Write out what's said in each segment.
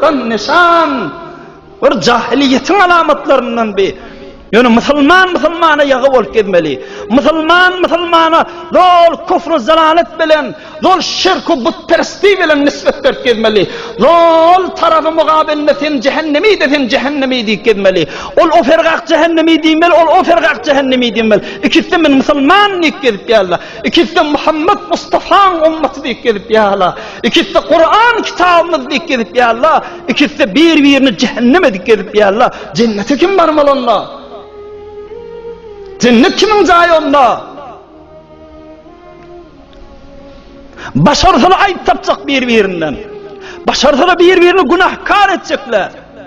Kan nyşan bir jahiliýetiň alamatlaryndan bi. Ýöne musulman musulmana ýagy bolup gezmeli. Musulman musulmana zol küfr zalalet bilen, zol şirk we butperestlik bilen nisbet berip gezmeli. Zol tarapy mugabelinde sen jehennemi de sen jehennemi diýip gezmeli. Ol o fergak jehennemi diýmeli, ol o fergak jehennemi diýmeli. Ikisi men musulman diýip gezip ýaly. Ikisem Muhammet Mustafaň ymmaty diýip gezip ýala. Ikisem Kuran kitabymyz diýip gezip ýala. Ikisem bir-birini jehennem edip gezip ýala. Jennete kim barmaly onda? Jennet kimiň jaýy onda? Başarsalar aýyp tapjak bir-birinden. Başarsalar bir-birini günahkar etjekler.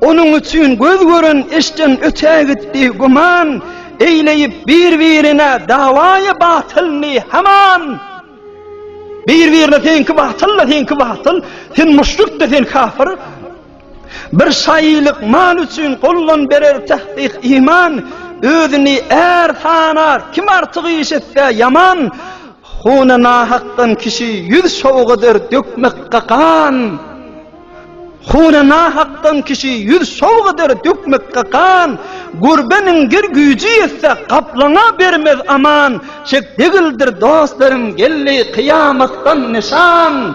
Onuň üçin göz gören eşden öte gitdi güman, Eýleýip bir-birine dawaýy batylny haman. Bir-birine seňki batyl-da, seňki batyl, sen muşrik-de, sen kafyr. Bir şaýylyk mal üçin gollan berer tahsyh iman, Özüni är sanar, kim artyk iş etse ýaman, Huna nahakdan kişi ýüz şowgadar dökmekge gan. Huna nahakdan kişi ýüz şowg eder dökmekge gan, Gurbe miňdir güýji ýetse gaplaňa bermez aman, Çek degildir dostlarym geldi kyýamatdan nyşan.